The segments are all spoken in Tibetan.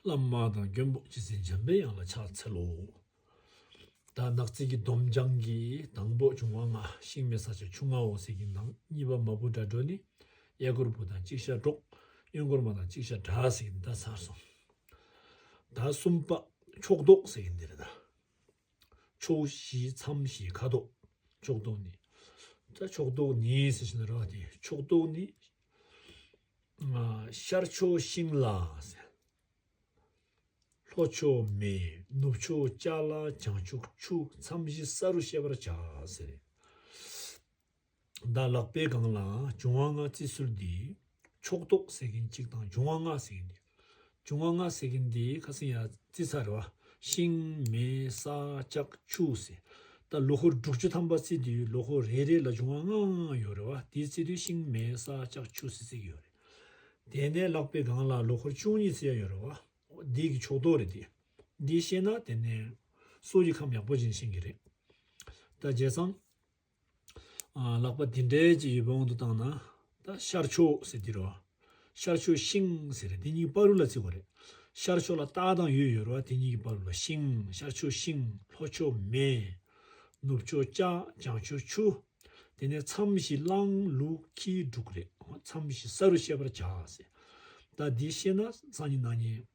བླ་མ་དང་མགོན་པོ་སྤྱི་ཟིན་འཇམ་པའི་དབྱངས་ལ་ཕྱག་འཚལ་ལོ། དར་ནག་རྩིས་ཀྱི་སྡོམ་བྱང་གི་དང་པོ་འབྱུང་བ་ལྔ་ཤིང་མེ་ས་ཆ་ཆུང་ལྔ་འོག་གསེར་གྱི་ནང་གཉིས་པ་མ་བུ་དགྲ་གྲོགས་ནི་གཡས་སྐོར་བུ་དང་གཅིག་ཤར་གྲོགས་གཡོན་སྐོར་མ་དང་གཅིག་ཤར་དགྲ་ཟེར་གྱི་འདི་དག་ཚར་སོང། ཟླ་གསུམ་པ་ཕྱོགས་མདོག་ཟེར་གྱི་འདི་རེད་ད། ཕྱོགས་བཞི་མཚམས་བཞི་ཁ་དོག་ཕྱོགས་མདོག་ནི། ས་ཕྱོགས་མདོག་ནི་ཟེར་བཞིན་ར་བ་སྟེ་ཕྱོགས་མདོག་ནི། ཤར་ཕྱོགས་ཤིང་ལ་ཟེར། ལྷོ་ཕྱོགས་མེ་ནུབ་ཕྱོགས་ལྕགས་ལ་བྱང་ཕྱོགས་ཆུ་མཚམས་བཞི་ས་རུ་ཤེས་པར་བྱ། བདག་ལག་པའི་སྒང་ལའང་འབྱུང་བ་ལྔ་བརྩི་སྲོལ་འདི། ཕྱོགས་གཏོགས་ཟེར་གིན་གཅིག་དང་འབྱུང་བ་ལྔ་ཟེར་གིན་འདི། འབྱུང་བ་ལྔ་ཟེར་གིན་འདི་ཁ་སེང་ཡ་བརྩི་ཚར་རེད་བ། ཤིང། མེ། ས། ལྕགས། ཆུ། ཟེར། ད་ལོ་ཧོར་འབྲུག་ཆུ་ཐམ་པ་བརྩི་དུས་ལོ་ཧོར་རེ་རེ་ལ་འབྱུང་བ་ལྔ་ཡོད་རེད་བ་དེ་བརྩི་དུས་ཤིང་མེ་ས་ལྕགས་ཆུ་ཟེར་ཚིག་ཡོད་རེད། དེ་ནས་ལག་པའི་སྒང་ལ་ལོ་ཧོར་བཅུ་གཉིས་བརྩི་ཡ་ཡོད་རེད་བ། འདི་གི་ཕྱོགས་གཏོགས་རེད་དེ། འདི་ཤེས་ན་དེ་ནས་སྲོག་གི་ཁམས་ཡག་པོ་སྦྱིན་ཤེས་གི་རེད། ད་བརྗེད་སམ། ལག་པ་དེ་འདྲའི་ཅིག་ཡོད་པ་དབང་དུ་བཏང་ན། ད་ཤར་ཕྱོགས་ཟེར་གྱི་རེད་བ། ཤར་ཕྱོགས་ཤིང་ཟེར་རེད་དེ་གཉིས་ཀྱི་པར་རུ་ལ་བརྩི་བ་རེད། ཤར་ཕྱོགས་ལ་རྟ་དང་ཡོས་ཡོད་རེད་བ་དེ་གཉིས་ཀྱི་པར་རུ་ལ་ཤིང་ཤར་ཕྱོགས་ཤིང་ལྷོ་ཕྱོགས་མེ། ནུབ་ཕྱོགས་ལྕགས་བྱང་ཕྱོགས་ཆུ། དེ་ནས་མཚམས་བཞི་གླང་ལུག་ཁྱི་འབྲུག་རེད་མཚམས་བཞི་ས་རུ་བཤད་པར་བྱ། ཟེར། ད་འདི་ཤེས་ན་སང་ཉིན་ནང་ཉིན།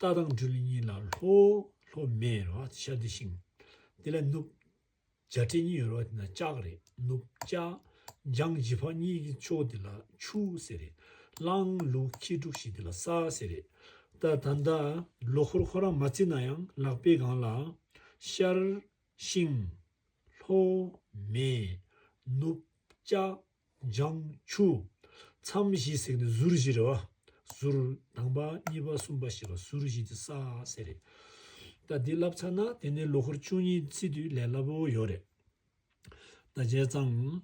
རྟ་དང་སྦྲུལ་གཉིས་ལ་ལྷོ། ལྷོ་མེ་རེད་བ་ཤ་འདི་ཤིང། འདི་ལ་སྣུབ། བྱ་སྤྲེལ་གཉིས་ཡོད་རེད་བ་འདི་ན་ལྕགས་རེད་སྣུབ་ལྕགས། འཇང་བཞི་ཕག་གཉིས་ཀྱི་ཕྱོགས་འདི་ལ་ཆུ་ཟེར་རེད་གླང། ལུག་ཁྱི་དྲུག་བཞི་འདི་ལ་ས་ཟེར་རེད་ད། ད་ལྟ་ལོ་འཁོར་ཁོ་རང་མ་བརྩིས་ན་ཡང་ལག་པའི་སྒང་ལ། ཤར། ཤིང། ལྷོ། མེ། སྣུབ། ལྕགས། འཇམ། ཆུ། མཚམས་བཞི་བསྲེགས་ནས་ཟུར་བཞི་རེ་བ། ཟུར། དང་པ། གཉིས་པ་གསུམ་པ་ཞེས་པ་ཟུར་བཞི་དེ་ས་བསྲེགས་རེད། ད་འདི་བསླབ་ཚར་ན་དེ་ནས་ལོ་འཁོར་བཅུ་གཉིས་ཚེས་དུས་ལས་སླ་པོ་ཡོད་རེད། ད་བྱས་ཙང།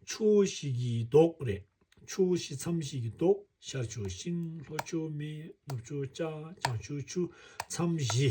ཆུ་བོ་བཞི་གི་མདོག་རེད། ཆུ་བོ་བཞི་མཚམས་བཞི་གི་མདོག་ཤར་ཆུ་ཤིང་ལྷོ་ཆུ་སྨད་ནུབ་ཆུ་ལྕགས་བྱང་ཆུ་ཆུ་མཚམས་བཞི།